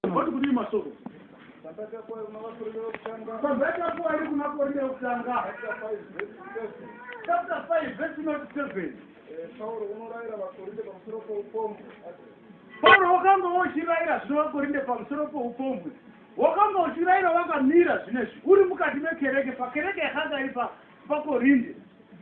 Voti kudii masoko? Pambeta kuwa iri kuna korinde yokutanga chapter 5 verse not 7 Pauro unorayira vakorinde pamusoro poupombwe Pauro wakanga wochirayira zvino vakorinde pamusoro poupombwe wakanga uchirayira wakamira zvine zvi uri mukati mekereke pakereke yakanga iri pakorinde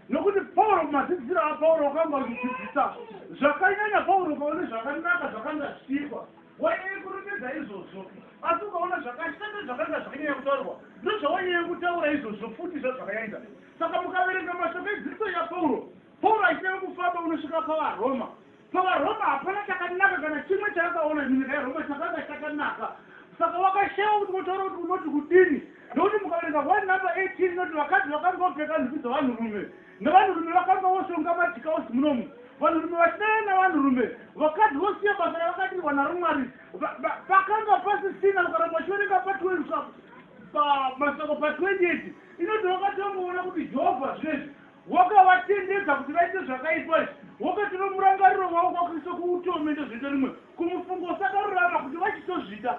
nokuti pauro madzidziro apauro wakanga uchidzidzisa zvakanyanya pauro paune zvakanaka zvakanga zvichiitwa Wainyanya kurumbidza izvozvo, asi ukaona zvakashata zvakanga zvakanyanya kutaurwa, ndozvawainyanya kutaura izvozvo futi zvazvakaita. Saka mukaverenga mashoko edzidziso yaPauro, Pauro achinyanya kufamba unosvika pavaRoma. PavaRoma hapana chakanaka kana chimwe chaakaona munyika yeRoma chakanga chakanaka. Saka wakashaiwa kuti wotaura kuti unoti kudini, nokuti mukaverenga 1 number 18 inoti vakadzi vakanga vopfeka nhumbi dzavanhurume. Nevanhurume vakanga voshonga madhikausi munomu, vanhurume vachidana navanhurume, vakadzi vosiya basa ravakadirwa naro Mwari. Va, va, pakanga pasisina, ukaramba uchiverenga pa 12 pa, pa masoko pa 28 inoti wakatongoona kuti Jehovha zvinezvi wakavatendedza kuti vaite zvakaipa izvi, wakatora murangariro wavo kwaKristu kuutome ndozviita rimwe kumufungo usakarurama kuti vachitozvita.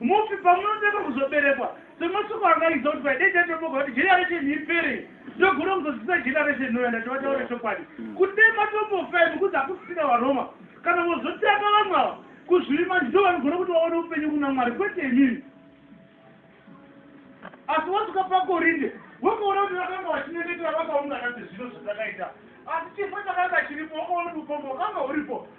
Mufi pamunotanga kuzoberekwa. So mashoko anga achiziva kuti paidei tatoboka kuti generation ipere ndogona kuzozivisa generation inouya ndati vataure chokwadi kuti dei matombofa imi kuzi hakusisina varoma kana vozotanga vamwe ava kuzvivima ndivo vanogona kuti vaone upenyu kuna mwari kwete imimi asi wasvika pakorinde wakaona kuti vakanga vachinyengetera vakaungana sezvino zvatakaita asi chifo chakanga chiripo wakaona kuti ukombo wakanga uripo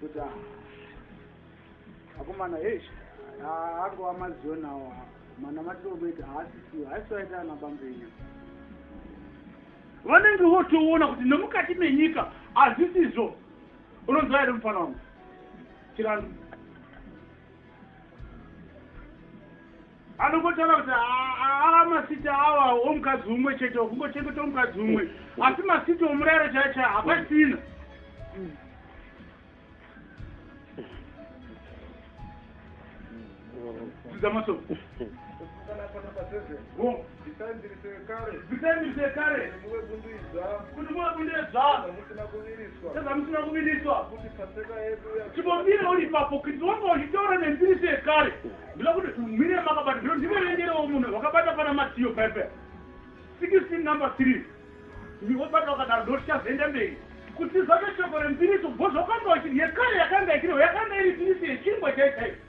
Kuti ah akomana eish ah, angova mazion awo ah, manamatiro okuita haasisiwo haisi vaita ana bambenyu vanenge votoona kuti nemukati menyika hazisizvo unonzwa here mufana wangu chiranu anongotaura kuti aa masiti awa omukadzi umwe chete okungochengeta omukadzi umwe asi masiti omurayiro chaya chaya hapasina dzidza masoko Zitai mbiri sekare. Zitai mbiri sekare. Kuti muve bundu idzva. Kuti muve bundu idzva. Zvamusina kuviriswa. Zvamusina kuviriswa. Kuti paseka yedu ya. Chibomire uri papo kuti wanga uchitaura nembiri sekare. Ndila kuti mire makabata ndiro ndiwe renderewo munhu wakabata pana Matiyo pepe. 16 number 3. Ndiwobata wakadaro ndotichazoenda mberi. Kuti zvabe shoko rembiriso bho zvakanga uchiri yekare yakanga ikiriwo yakanga iri mbiriso yechingwa chaichaicho.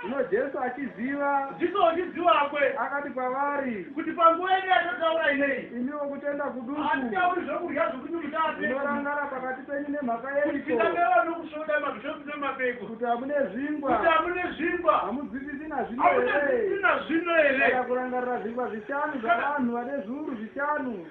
Zvino Jesu achiziva. Jesu achiziva kwe. Akati kwavari. Kuti panguva yenyu yatataura inei. Imiwo kutenda kuduku. Hatitauri zvokudya zvokuti mutape. Munorangara pakati penyu nemhaka yeiko. Kuti tinangara nokusvoda mabhishopi nemapeko. Kuti hamune zvingwa. Kuti hamune zvingwa. Hamudzipisi nazvino here. Hamudzipisi nazvino here. Kana kurangarira zvingwa zvishanu zvavanhu vane zviuru zvishanu.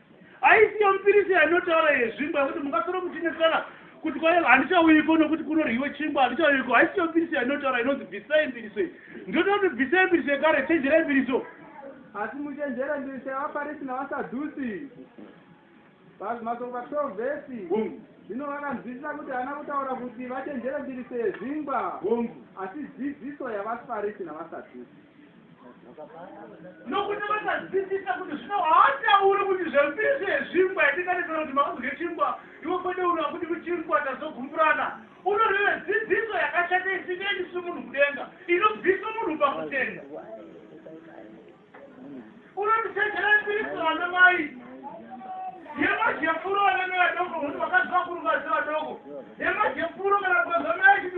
Aisiyo mupirisi anotaura yezvingwa kuti mungasoro muchinesana kuti kwaye handichauyiko nokuti kunoryiwe chingwa handichauyiko haisiyo mupirisi anotaura inonzi bvisai mbiriso iyi ndinoda kuti bvisai mbiriso yekare chenjerai mbiriso asi muchenjere mbiriso yavafarisi navasadhusi pazvimasoko pa 12 vhesi zvino vakanzwisisa kuti haana kutaura kuti vachenjere mbiriso yezvingwa asi dzidziso yavafarisi navasadhusi nokuti vakadzidzisa kuti zvino haatauri kuti zvembiso yezvingwa yatinganesana kuti makazodye chingwa iwe kwete uno hakuti kuchingwa tazogumburana unoreve dzidziso yakashata isingaendisi munhu kudenga inobvisa munhu pakutenda unotisechera mbiriso vana mai yemajepuro vanenge vadoko munhu vakaziva kurungazi vadoko yemajepuro kana kukazamai chiti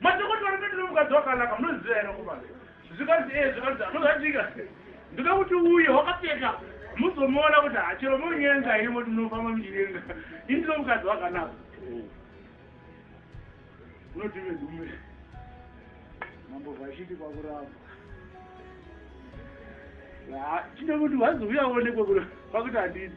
Madhokodheya vari kuita nomukadzi wakanaka munoziva here komana? Zvikanzi ee zvikanzi anozvatika ndikuda kuti uye wakapfeka muzomuona kuti hachero monyenga here moti munofamba muchinyenga ini ndino mukadzi wakanaka unoti vedume mambo vachiti kwakuramba tine kuti wazouya onekwe kuno kwakuti handidi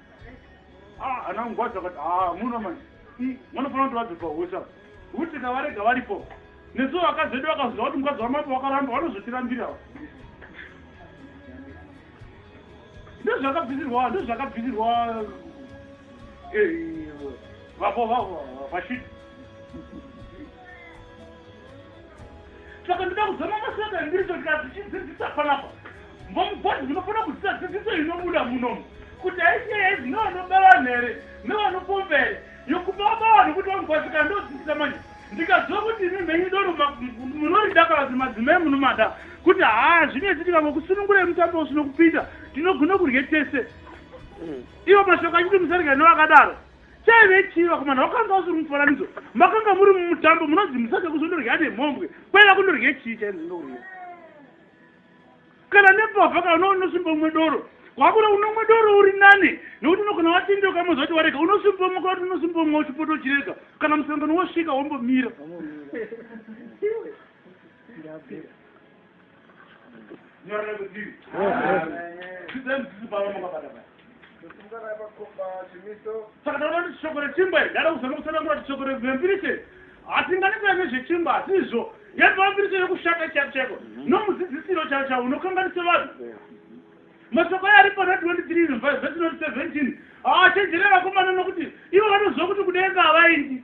Ah, ana ngwazi vakati ah, muno manje hmm, vanofanira kuti vabve pahosha kuti kavarega varipo nesu vakadzi vedu vakaziva kuti mukadzi wamambo wakaramba vanozotirambira ndozvakabvisirwa ndozvakabvisirwa eh, vavo vavo vashiti saka ndoda kuzama masaka ndiricho ndikadzichidzidzisa panapa ngomugwazi ndinofanira kudzisa dzidziso inobuda munomu kuti aisiye yaizi nevanoba vanhu here nevanopomba here yokuba vaba vanhu kuti vamugwazi kana ndodzidzisa manje ndikaziva kuti imi mhenyu doro munoridakala kuti madzimai munomada kuti haa zvinetsi tikangokusunungura emutambo usinokupinda tinogona kurye tese mm. ivo mashoko achiti musarigani vakadaro Chaive chii vakomana wakanga usiri mufananidzo makanga muri mumutambo munonzi musake kuzondorya nemhombwe kwaiva kundorye chii chainzindokurya kana nepavha kana uno unosumba umwe doro kwakuda unomwe doro uri nane nekuti unogona watinde ukamoza kuti warega unosumba umwe kwakuti unosumba umwe uchipoto uchirega kana musangano wosvika wombomira saka taona kuti shoko rechimba iri ndada kuzama kutsanangura kuti shoko rempirishe hatingani kuya nezvechimba asi izvo yatova mpirishe yekushata chaiko chaiko mhm. nomudzidzisiro chao chao unokanganisa vanhu mashoko ayo ari pana 23 vhesi 17 haachenjere vakomana nokuti ivo vanoziva kuti kudenga havaindi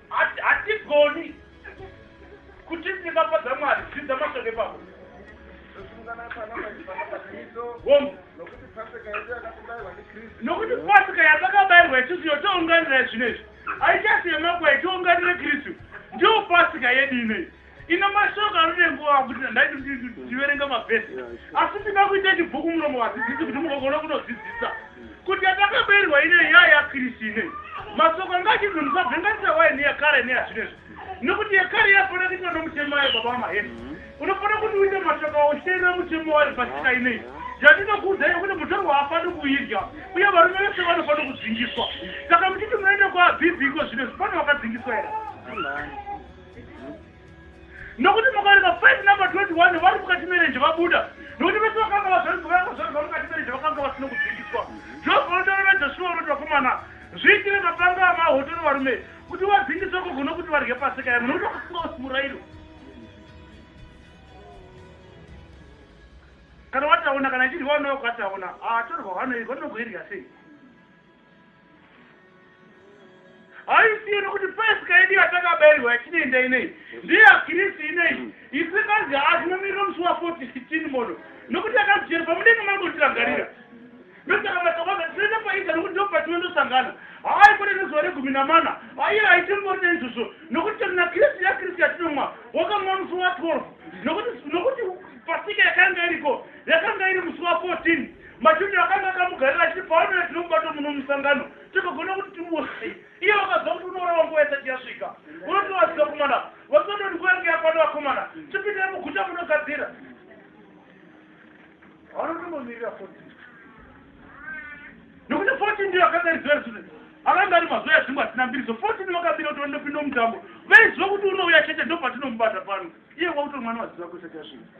hatigoni kuti ndingafadza mwari zvidza mashoko epako nokuti pasika yatakabairwa isusu yotounganira zvinezvi haichasiyemakwai tiunganire kristu ndiyo pasika yedu inei Ine mashoko anode nguva kuti ndandai ndiverenga mavhesi asi ndinga kuita chibhuku muromo vadzidzisi kuti mugogona kunodzidzisa kuti yatakabeirwa ine nyaya yakirisi ine masoko anga achinzi musavhenganisa waye neyakare neyazvinezvi nekuti yekare yafanira kuitwa nomutemo wayo baba wamaheni mhm. unofanira kuti uite mashoko auteerera mutemo wayo pasika inei yatinokuudzai kuti mutorwa hafani kuidya uye varume vese vanofana kudzingiswa saka muchiti munoenda kwaabhibhi iko zvinezvi pane vakadzingiswa here nokuti mukaverenga 5 number 21 vari mukati merenje vabuda nokuti vese vakanga vazvarizvakazvarizva mukati merenje vakanga vasina kudzikiswa jehovha unotaurira joshua unoti vakomana zviitire mapanga amahotoro varume kuti vadzingiswe koko nokuti varye pasika yavo nokuti vakasunga usi murairo kana wataona kana ichirwa unokataona atorwa ah, vanoirwa nokuirya sei haisiyeni kuti pasika yedu yatakabairwa yatinoenda inei ndeyakirisi inei mm. isu kanzi hazvinomirira musi wa 416 mono nokuti akazvijeri pamudenga mangotirangarira ndosaka matawaza tinoenda paita nokuti ndo patinondosangana hayi kune nezuva regumi namana aiye haitimbori neizvozvo nokuti tana kirisi yakirisi yatinomwa wakamwa musi wa 12 nokuti pasika yakanga iriko yakanga iri musi wa 14 Machoni akanga akamugarira achiti paanoya tinomubata muno musangano tikagona kuti timusi iye vakaziva kuti unourawa nguva isati yasvika unotovaziva kumana vasadoni nguva yange yakwana vakomana tipindire muguta munogadzira vanotombomirira foti nekuti foti ndiyo akanga riziva risune akanga ari mazuva yazvimbo asina mbiriso foti ndiyo akabira kuti vanopinda mutambo vaiziva kuti unouya chete ndopatinomubata pano iye kwakuto mwana vaziva kuisati yasvika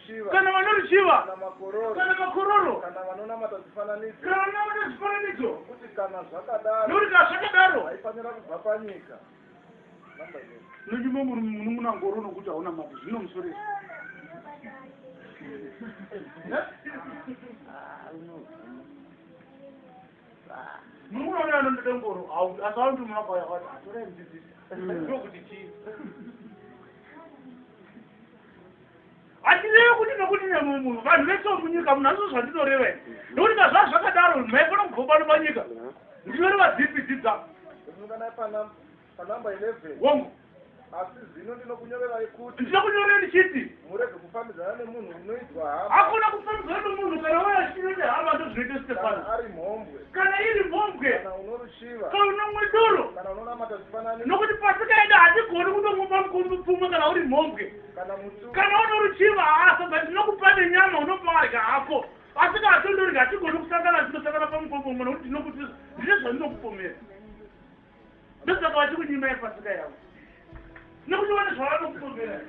kana vanoruchiva kana makororo kana vanonamata zvifananidzo nokuti kana zvakadaro haifanira kubva panyika nonyuma munun'una ngoro nokuti hauna mati zvino musoresa munun'una uyo anondoda ngoro asi aundi muna kwaya kwati atorai mudzidzisi ndokuti chii handireve kuti nokuti nemumwe munhu vanhu vese vomunyika munhu hazvo zvandinoreva i nokuti kazvaa zvakadaro maifana kubvopano panyika ndinoreva dzipi dzidza wongu asi zvino ndinokunyorerai kuti ndinokunyorera ndichiti murege kufambidzana nemunhu unoidzwa hama hakuna kufambidzana nemunhu kana waya chino nehama ndozvinoita stefano ari mhombwe kana iri mhombwe kana unorushiva kana unomwe doro kana unonamata zvifanani nokuti pasika yedu hatigoni kutomwa pamupfumwe kana uri mhombwe Kana uno ruchiva hasa but ndinokupa nenyama unopa wadya hako. Asi kana tondorega hatigoni kusangana tinosangana pamupombomo nokuti ndinokuti ndine zvandinokupomera. Ndosaka vachikunyima yepasika yavo. Nokuti vane zvavanokupomera.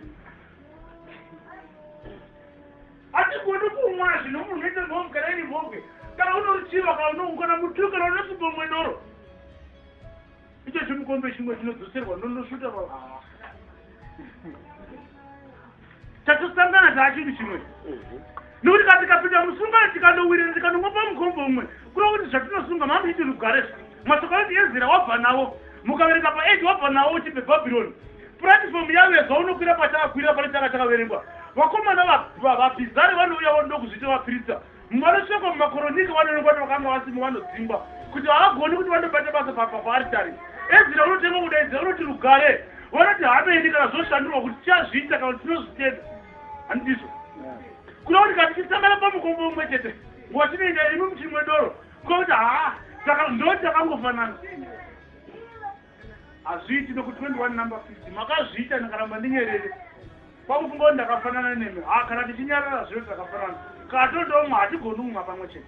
Hatigoni kumwa zvino munhu unoita mhomu kana iri mhombe. Kana uno ruchiva kana unoukana mutuka kana unosupa mwe doro. Icho chimukombe chimwe chinodzoserwa ndonosvuta baba. Tatosangana taachinhu chimwe. Mhm. Nokuti kana tikapinda musungano tikanowirira tikanongwa pamukombe umwe kureva kuti zvatinosunga mamuiti rugare zva mashoko anoti ezira wabva nawo mukaverenga paeji wabva nawo uchibve bhabhironi puratifomu yavo yezva unokwira pachakakwirira pane chaka chakaverengwa vakomana vabhizari vanouya vanoda kuzviita vapirita Mumwe anotsvekwa mumakoronika vanoonekwa kuti vakanga vasimo vanodzingwa kuti havagoni kuti vandobata basa pamba paaritari. Ezira unotengwa kudaidza unoti rugare vanoti hameni kana zvoshandurwa kuti tichazviita kana kuti tinozvitenda handizvo kuda kuti kana tichisangana pamukombo umwe chete nguva chinoenda imi muchimwe doro kuda kuti haa saka ndoti akangofanana hazviiti nokuti 21 number 50 makazviita ndikaramba ndinyerere kwakufunga kuti ndakafanana nemi ha kana tichinyarara zvino takafanana kana tondomwa hatigoni kumwa pamwe chete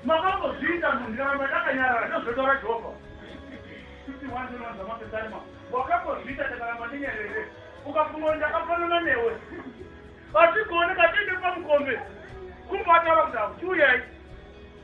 makangozviita munhu ndikaramba ndakanyarara ndozvotaura jehovha wakangozviita ndikaramba ndinyerere ukafunga kuti ndakafanana newe hatigoni katiende pamukombe kumbataura kuti hautiuyai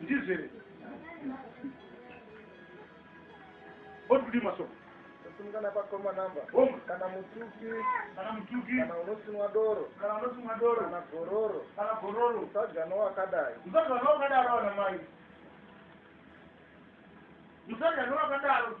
ndizvere oti kudii masoko kusungana pakoma namba kana mutuki kana mutuki kana unosimwa doro kana unosimwa doro kana gororo kana gororo usadya nowakadai usadya nowakadaro vana mai usadya nowakadaro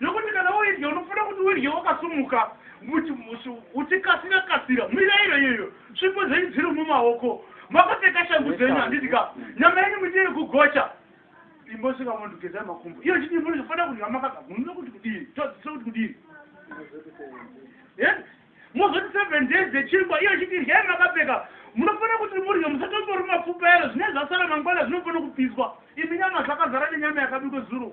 Nokuti kana woidya, unofanira kuti uidye wakasumuka, uchikasira kasira. Mirayiro iyoyo, svipo dzenyu dziri mumaoko. Makapfeka shangu dzenyu, handiti ka? Nyama yenyu muitire kugocha. Imbosvika mondogezai makumbo. Iyo chidii munofanira kudya makagara. Munoda kuti kudii? Tadzisira kuti kudii? Mozoti seven days dzechingwa, iyo chidii ryai makapfeka. Munofanira kuti murye musatomborwa mapfupa ero, zvinenge zvasara mangwana zvinofanira kupiswa. Imi nyama zvakazara nenyama yakabikwa zuro.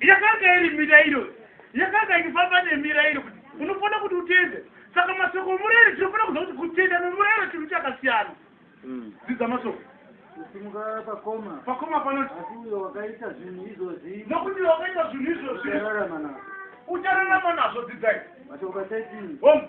Yakanga iri mirairo, yakanga ichifamba nemirairo kuti unofanira kuti utende. Saka mashoko omurairo, tinofanira kuziva kuti kutenda nomurairo chinhu chakasiyana. Mm. Dzidza mashoko. Kusimuka pakoma. Pakoma panoti. Asi uyo wakaita zvinhu izvozvi. Nokuti wakaita zvinhu izvozvi. Uchararama nazvo. Uchararama nazvo, dzidzai. Mashoko 13. Home.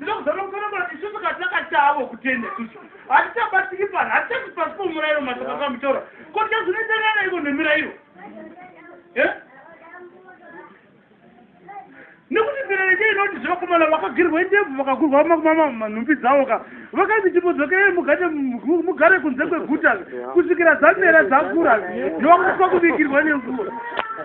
Ndakuzana kufanana isusu kana takatavo kutenda isusu hatichabatsiki pano hatichati pasi pomurairo mashoko akamutora ko tichazvinoitanana iko nemirairo eh? nekuti mirairo che inoti zvevakomana vakagirwa indebvu vakagurwa makumamanhumbi dzavo ka vakanzi chimodzokerei mugare kunze kweguta kusvikira dzamera dzakura ndovakuitwa kubikirwa nenguva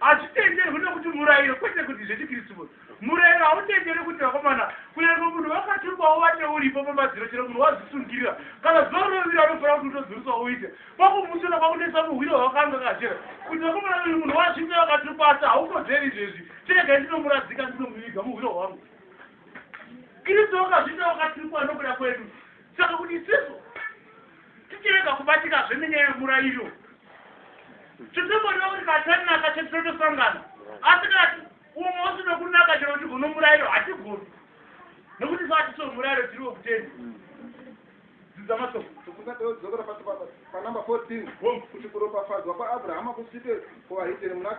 Hazvitenderwi nokuti murayiro kwete kuti zvechiKristu kuti murayiro hautendere kuti vakomana kunyange munhu vakatumbawo vate uripo pamadziro chero munhu wazvisungirira kana zuva rinovira anofanira kuti utodzurisa uite kwakumusona kwakunetsa muhwiro hwakanga kachera kuti vakomana uyu munhu wasvitsa vakatumba asi haukodzeri izvezvi chiregai ndinomuradzika ndinomuviga muhwiro hwangu Kristu wakazvita wakatumba nokuda kwedu Saka kuti isisu tichirega kubatika zvenenyaya yemurayiro tisingondiva kuti katarinaka chetotosangana asi kati umwe usina kunaka chero kuti guno murayiro hatigoni nekuti sati so murayiro tiri wekutenda dzidza masoko tokunadeodzokera pasi panumber 14 kuti kuropafadzwa kwaabrahama kusvike kuvahitere muna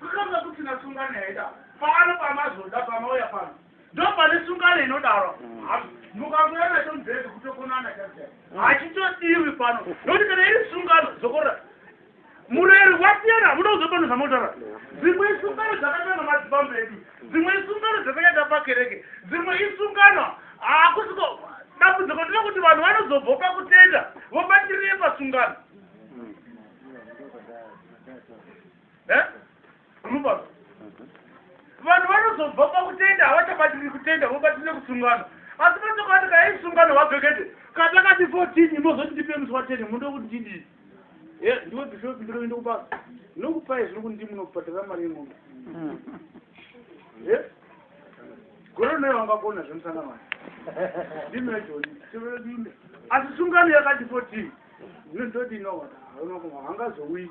Kutotanga kusina sungano yaida pano pamazoda pamauya pano ndopane sungano inodaro mukamuya nacho mubhedhi kutokonana chaia hachitodiwi pano nokuti kana iri sungano zokorora mureri wasiyana hamuda kuzopano zvamotaura dzimwe isungano dzakatanga madzibambo edu dzimwe isungano dzakanyata pakereke dzimwe isungano hakusiko dambudziko ndiro kuti vanhu vanozobva pakutenda vobatirire pasungano eh? unopa vanhu vanozobva pakutenda havachabatiri kutenda vobatire kusungano asi vatokati kaei sungano vabhekete kata kati fourteen imozoti ndipe musi wateni mundo kuti ndidii eh, ndiwe bishopi ndinoende kubasa ndinokupai zvino kuti ndimunobhadhara mari yengombe hmm. eh? gore naye wangakona zvemusangano wacho ndimejoni tiveedinde asi sungano yakati fourteen ndinondodinoona hangazouyi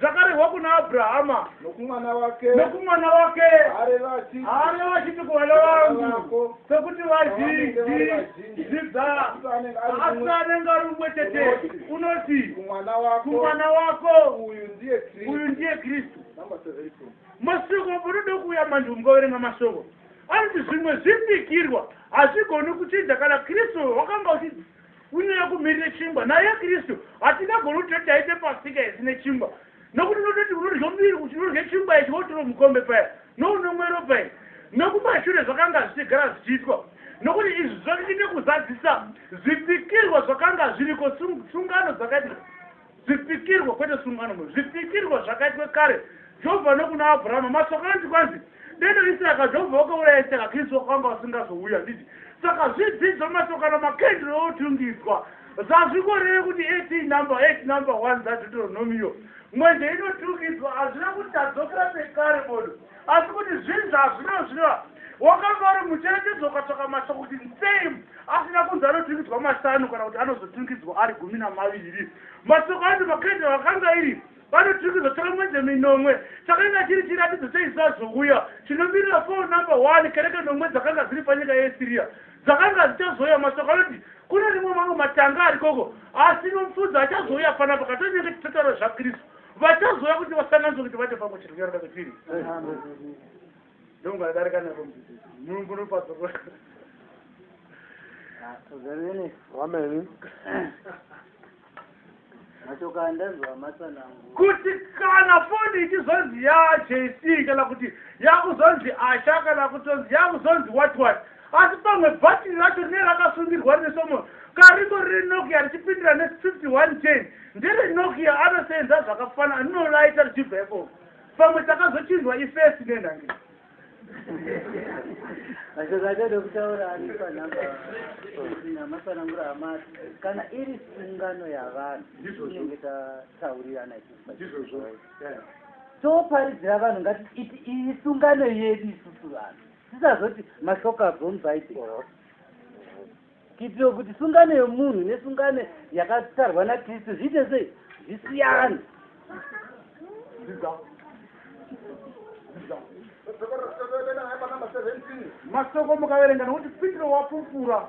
zvakarehwa kuna abrahama nokumwana wake nokumwana wake areva achiti areva achiti kuvana vangu sekuti vazhinji zvidza asi anenge ari umwe chete unoti kumwana wako uyu ndiye kristu mashoko unoda kuuya manje ungaverenga mashoko anoti zvimwe zvipikirwa hazvigoni kuchinja kana kristu wakanga uchii Kunyanya kumirire chingwa. Naye Kristu, hatingagoni kuti taite pasika yese nechingwa. Nokuti unototi unodya muviri kuti unodya chingwa ichi wotiro mukombe paya, nounomwero pai. Nokumashure zvakanga zvichigara zvichiitwa. Nokuti izvi zvichave nekuzadzisa zvipikirwa zvakanga zviriko, sungano dzakadii. Zvipikirwa, kwete sungano mwe, zvipikirwa zvakaitwa kare Jehovha nokuna Abrahama. Mashoko anoti kwanzi, Deno Isaka, Jehovha wakauraya Isaka, Kristu wakanga wasingazouya. Handiti? Saka zvidzidzo, mashoko kana makendro otungidzwa zvazvingoreve kuti eti number eti number one dzaDeuteronomiyo. Mwenje inotungidzwa, hazvina kuti tadzokera pekare bodo. asi kuti zvinzi hazvino zvino wakanga uri mucherechedzo ukatsvaka masa kuti nsei asina kunzi anoturikidzwa mashanu kana kuti anozoturikidzwa ari gumi namaviri mashoko anzi makrete vakanga iri vanoturikidzwa tsvaka mwenje minomwe chakanga chiri chiratidzo cheizazouya chinomirira fo number one kereke nomwe dzakanga dziri panyika yeasiriya dzakanga dzichazouya mashoko anoti kune rimwe mamwe matanga arikoko asi nomufudzi achazouya panapa katonenge titotaro zvakristu Vachazouya kuti vasanganise kuti vate pamwe chete kunyarara kwetiri. Ndongo adarika nako mudzidzisi. Mulungu unopazorwa. Amen. Machoka ndanzwa matsanangu. Kuti kana foni ichizonzi ya JC kana kuti yakuzonzi Asha kana kutonzi yakuzonzi what what. Asi pamwe bhatiri racho rinenge rakasungirwa rine somo kariko rine Nokia richipindira ne 51 chain ndere Nokia anoseenza zvakafana anonolaita richibva ipopo pamwe takazochinjwa ifesi nenhange mashoko atode kutaura ari panhamba namatsanangura amati kana iri sungano yavanhu inenge tataurirana toparidzira vanhu ngati iti iyi sungano yedu isusu vanhu Tisazoti mashoko abva muBhaibheri. Kuitira kuti sungano yomunhu nesungano yakatarwa naKristu zviite sei? Zvisiyane. Masoko mukaverenga nokuti Petro wapupura.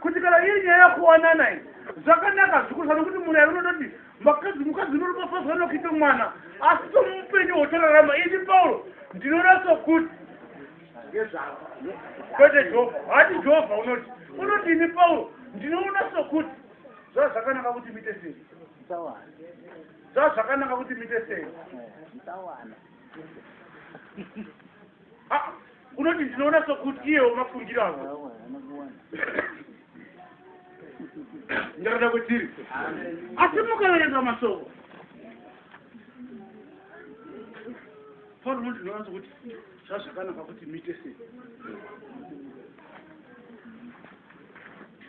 kuti kana iri nyaya yakuwanana iyi zvakanaka zvikurisa nokuti murairo unototi makadzi mukadzi unorumafazwa nokuita mwana asi somupenyu hwotorarama ini pauro ndinoona sokuti ngezvavo kwete jehovha hati jehovha unoti unoti ini pauro ndinoona sokuti zvaa zvakanaka kuti mite sei zvaa zvakanaka kuti mite sei Ah, unoti ndinoona sokuti iyewo mafungiro ako ndarada kwetiri asi mukaverenga masoko pauro unoti ndinoona sokuti zvazvakanaka kuti muite sei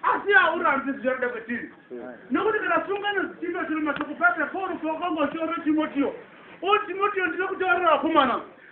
asi haurambi zvichada kwetiri nokuti kana sungano dzichimba chiri masoko pata pauro pawakangoshoro timotiyo o timotiyo ndiri kutaurira akomana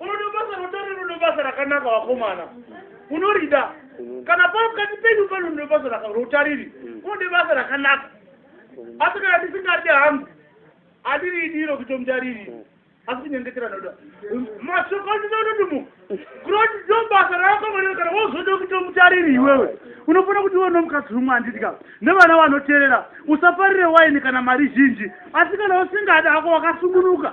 unoda basa rotari unoda basa rakanaka vakomana unorida kana pakati penyu pano unoda basa rotariri mm. unoda basa rakanaka mm. asi kana ndisingaride hangu andiriidiro kutomutariri mm. asi kunyengetera noda mashoko andida unoti mu kuroti ndo basa raakamwanira kana wozoda kutomutariri iwewe unofanira kuti iwe nomukadzi umwe andidya nevana vanoterera usafarire waini kana mari zhinji asi kana usingadi ako wakasungunuka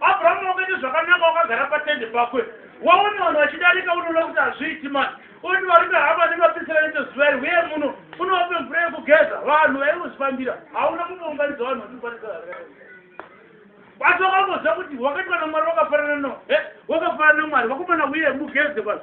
Abraham wakaita zvakanaka wakagara patende pakwe waona vanhu vachidarika unoona kuti hazviiti mani oti varume havo vanenge vapisira nechezuva iri uye muno unovape mvura yekugeza vanhu vaingozvifambira hauna kumbounganidza vanhu vatiparisa asi wakamboziva kuti wakati vana mwari wakafanana no eh, wakafanana nemwari vakomana uye mugeze vanhu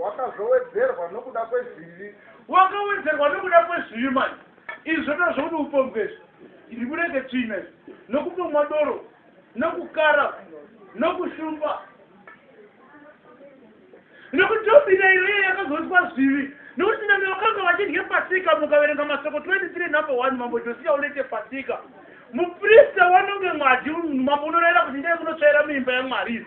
wakazowedzerwa nokuda kwezvivi wakawedzerwa nokuda kwezvivi mani izvi zvotoa zvokuti upombwe izvi ndibureke tsvina izvi nokupomwa doro nokukara nokushumba nokuti tobina iro iyo yakazoiswa zvivi nokuti name vakanga vachidye pasika mukaverenga masoko 23 number 1 mambo josiya ulete pasika muprista wanonge mwadi mambo unoraira kuti ndee munotsvaira muimba yamwari izvi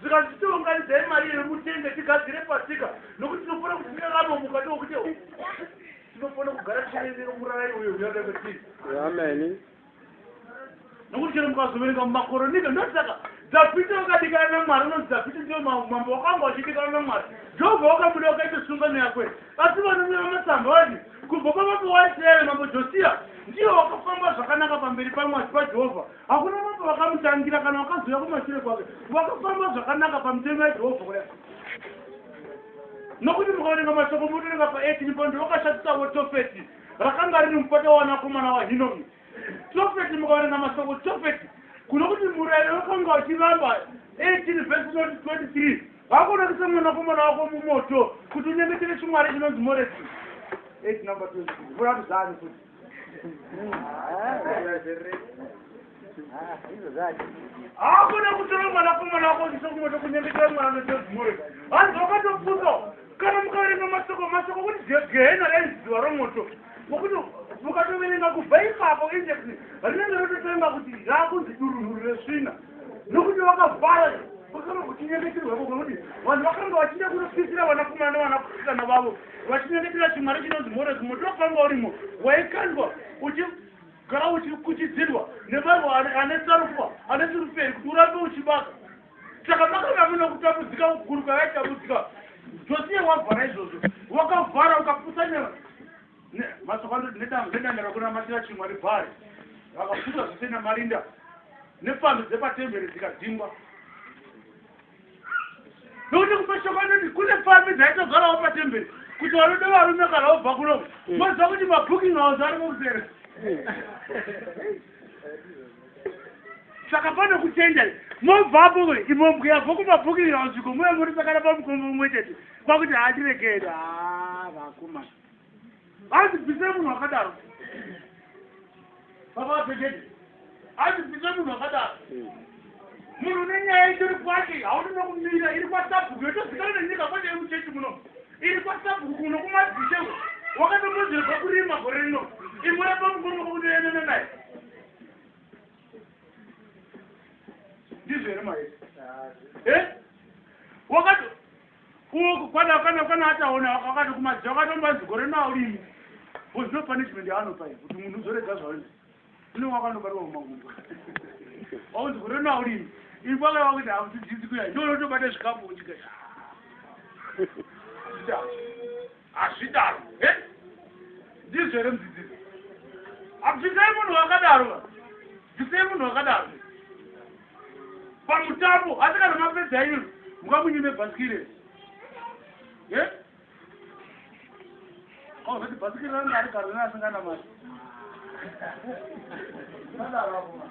zvikanzi titounganidzai mari iyoyo mutenge tigadzire pasika nokuti tinofanira kuti tikakanomuka tookuti tinofanira kugara tichiverenga murara iyoyo uyaka kwetiri ameni nokuti chero mukazoverenga mumakoronika ndosaka dhavhidhi wakadikana namwari unonzi dhavhidhi ndiyo mambo wakanga wachidikana namwari jehovha wakamuda wakaita sungano yakwe asi vanonyora matsamba vati kubva pamambo waisraeri mambo josiya ndiyo wakafamba zvakanaka pamberi pamwari pajehovha Hakuna mambo vakamutangira kana vakazouya kumashure kwake. Vakafamba zvakanaka pamitemo yaJehovha kudai. Nokuti mukaverenga mashoko motorenga pa18 pano ndovakashatisavo Tofeti rakanga riri mupata wavanakomana waHinomi. Tofeti mukaverenga mashoko Tofeti kuno kuti murayiro wakanga wachiramba 18 vhesi 23 vakonakisa mwanakomana wako mumoto kuti unyengetere chimwari chinonzi Moreki. 8 number 23 vuraruzani kuti hakuna kutora mwana kumwana wako uchiso kumoto kunyengetera mwana notozimore hanzi wakatopuso kana mukaverenga masoko masoko kuti gehena raiziva romoto nokuti mukatoverenga kubva ipapo index rinenge rototonga kuti raakunzi durunhuru resvina nokuti vakavhara vakanga kuchinyengeterwa vo kunoti vanhu vakanga vachida kunopisira vanakomana nevanasikana vavo vachinyengetera chimwari chinonzi moresi moto wakanga urimo waikandwa uchigara uchikuchidzirwa nevanhu ane sarufa ane suruferi kuti urambe uchibaka saka makanga mune kutambudzika kukuru kwavaitambudzika josiya wavhara izvozvo wakavhara ukapusanyara Mashoko anoti nedanda rakunamatira chimwari Bhaari vakaputsa zvose namarinda nepfambi dzepatemberi dzikadzingwa. Nokuti kumashoko anoti kune pfambi dzaitogarawo patemberi kuti vanoda varume kana vobva kuno hmm. moziva kuti mabooking house ari mukusere saka pane kutenda mobvapo imombweya bvo kumabooking house iko muya muri sakana pamukombo umwe chete kwakuti handiregere ha ah, vakomana hanzi bvisai munhu akadaro baba vapegede hanzi bvisai munhu akadaro hmm. munhu une nyaya itori kwake haudi nokumira iri kwasabhuku yotozikana nenyika kwete iri muchechi muno iri kwasabhuku kuno kumadzishe wakatomozerwa kurima gore rino imwe rapamukono kwakunoenana naye ndizvo here maese e eh? wakato Uku kwana kana kana ataona wakati kumadzi wakatomba zigore na ulimi. Because no punishment yaano pai kuti munhu uzorega zvaunzi. Uno wakano barwa kumagumbo. Au zigore na ulimi. Ipo aka wakuti hakuti dzizi kuya. Ndono tobata zvikapo uchikasha. Yeah. Hazvidaro. He? Ndizvo here mudzidzisi? Abvisai munhu wakadaro va. Bvisai munhu wakadaro. Pamutambo asi kana mapedza yenyu mukamunyime bhasikiri here? He? Oh, vati bhasikiri ranga ari garwe asingana mari. Sadaro apo.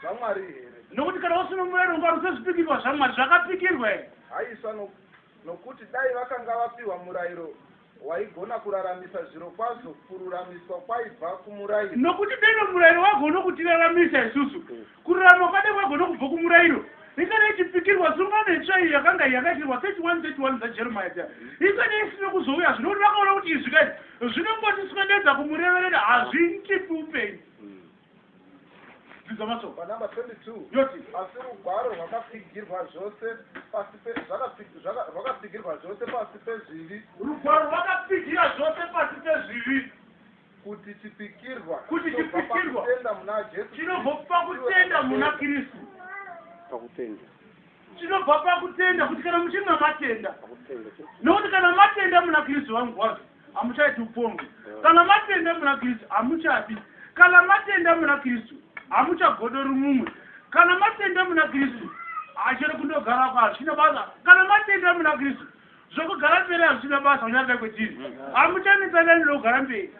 zvamwari here nokuti kana wasunungura nonga rusa zvipikirwa zvamwari zvakapikirwa here haisa no, nokuti dai vakanga vapiwa murayiro waigona kuraramisa zviro kwazvo kururamiswa kwaibva kumurayiro nokuti dai nomurayiro wagona kutiraramisa isusu mm. kururama kwadai kwagona kubva kumurayiro ikana ichipikirwa sungano itsva iyo yakanga yakaitirwa 31 31 dzajeremiya dza ikana isina kuzouya zvino kuti vakaona kuti izvi kai zvinongotiswededza kumureverera hazviitipi upenyu Dzidza mashoko. Panumber 22. Yoti. Asi rugwaro rwakapfigirwa zvose pasi pe zvakapfig- zvaka- rwakapfigirwa zvose pasi pezvivi Rugwaro rwakapfigira zvose pasi pezvivi kuti chipikirwa Kuti chinobva chipikirwa. pakutenda muna Jesu chinobva pakutenda muna Kristu. pakutenda Chinobva pakutenda kuti kana muchinge matenda. pakutenda Nokuti kana matenda muna Kristu vangu wazvo. hamuchaiti upombwe kana matenda muna kristu hamuchafi kana matenda muna kristu hamuchagodori mumwe kana matenda muna kristu hachiri kundogara kwa hazvina basa kana matenda muna kristu zvokugara mberi hazvina basa unyarida kwetiri hamuchanetsanani lokugara mberi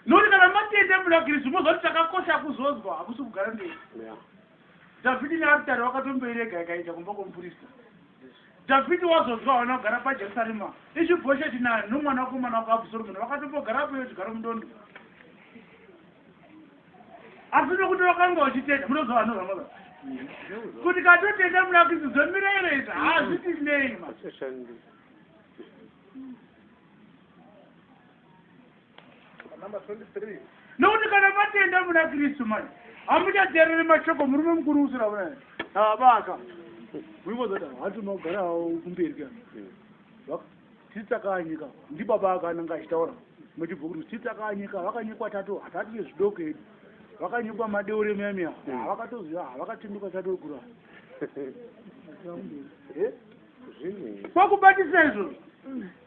nokuti kana matenda muna kristu mozoti chakakosha kuzonzwa hakusi kugara mberi dhavhidi nearitari wakatomboirega ikaita kumba kwomupurista Dhavhidhi wazonzwa hauna kugara paJerusarema, Ishibhosheti naAhinomi mwanakomana wakuAbhusoromoni vakatombogarapo iwe chigaro mudondo. Asi nokuti vakanga vachitenda, munoziva vanoramba baba kuti katotenda munakisi zvemirayiro izvi hazviti nei ma nokuti kana matenda muna kristu mani hamuchateerere mashoko murume mukuru usira vana abaka uikozati hati unogara kumberi ka titsakanyika ndibaba akananga achitaura muchibva kuti titsakanyika vakanyikwa tatu hatati nezvidoko edu vakanyikwa madeure miyamiya havakatoziva havakatinduka chatokura kwakubatisa izvozvo